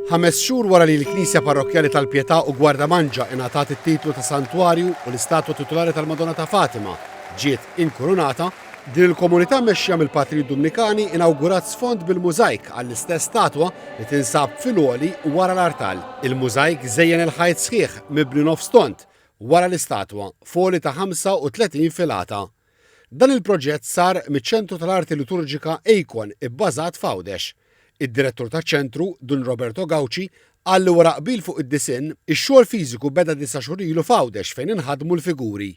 Ħames xhur wara li l-Knisja Parrokkjali tal-Pietà u Gwardamanġa ingħatat it-titlu ta' Santwarju u l-istatwa titulari tal-Madonna ta' Fatima ġiet inkurunata, din il-komunità mmexxija mill-Patrijiet Dumnikani inawgurat sfond bil-mużajk għall-istess statwa li tinsab fil-għoli wara l-artal. Il-mużajk żejjen il-ħajt sħiħ mibni nofs tond wara l-istatwa, f'għoli ta' 35 filata Dan il-proġett sar miċ-Ċentru tal-Arti Liturġika Eikon ibbażat f'Għawdex. Id-Direttur taċ-Ċentru, Dun Roberto Gauci, qal li wara qbil fuq id-disinn, ix-xogħol fiżiku beda disa' xhur ilu f'Għawdex fejn inħadmu l-figuri.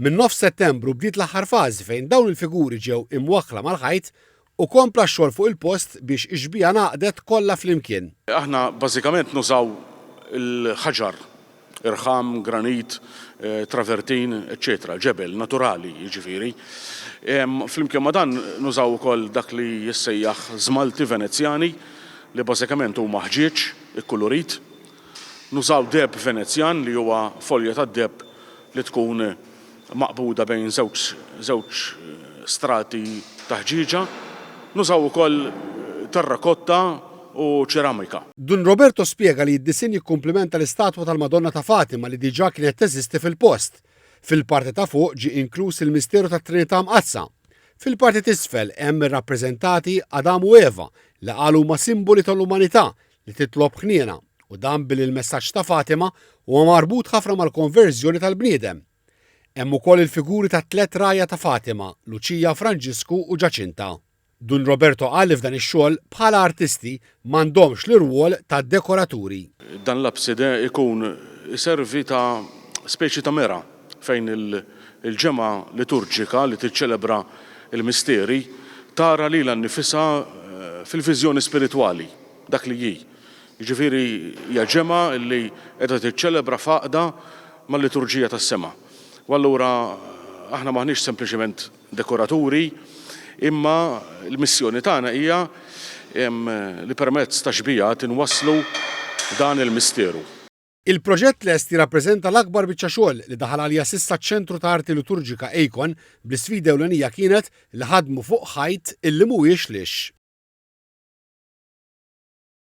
Minn nofs Settembru bdiet l-aħħar fażi fejn dawn il-figuri ġew imwaħħla mal-ħajt U kompla x-xogħol fuq il-post biex ix-xbieha ngħaqdet kollha flimkien. Aħna bażikament nużaw il-ħaġar, irħam, granit, travertin, eċċetera, ġebel, naturali, jiġifieri. Flimkien ma' dan nużaw ukoll dak li jissejjaħ żmalti Venezjani li bażikament huma ħġieġ ikkulurit. Nużaw deheb Venezjan li huwa folja tad-deheb li tkun maqbuda bejn żewġ żewġ strati ta' ħġieġa. Nużaw ukoll terrakotta u ċeramika. Dun Roberto spjega li d-disinn jikkumplimenta l-istatwa tal-Madonna ta' Fatima li diġà kienet teżisti fil-post. Fil-parti ta' fuq ġie inkluż il-misteru tat-Trinità Mqaddsa. Fil-parti t'isfel hemm irrappreżentati Adam u Eva li qal huma simboli tal-umanità li titlob ħniena, u dan billi l-messaġġ ta' Fatima huwa marbut ħafna mal-konverżjoni tal-bniedem. Hemm ukoll il-figuri tat-tliet rgħajja ta' Fatima, Luċija, Franġisku, u Ġaċinta. Dun Roberto qal li f'dan ix-xogħol, bħala artisti, m'għandhomx l-irwol ta' dekoraturi. Dan l-abside jkun iservi ta' speċi ta' mera fejn il-ġemgħa liturġika li tiċċelebra l-misteri tara lilha nnifisha fil-viżjoni spiritwali, dak li hi. Jiġifieri hija ġemgħa li qiegħda tiċċelebra f'għaqda mal-liturġija tas-sema. U allura aħna m'aħniex sempliċement dekoraturi, imma l-missjoni tagħna hija li permezz ta' xbiehat inwasslu dan il-misteru. Il-proġett lest jirrappreżenta l-akbar biċċa xogħol li daħal għalija s'issa ċ-Ċentru ta' Arti Liturġika ACON bl-isfida ewlenija kienet li ħadmu fuq ħajt illi mhuwiex lix.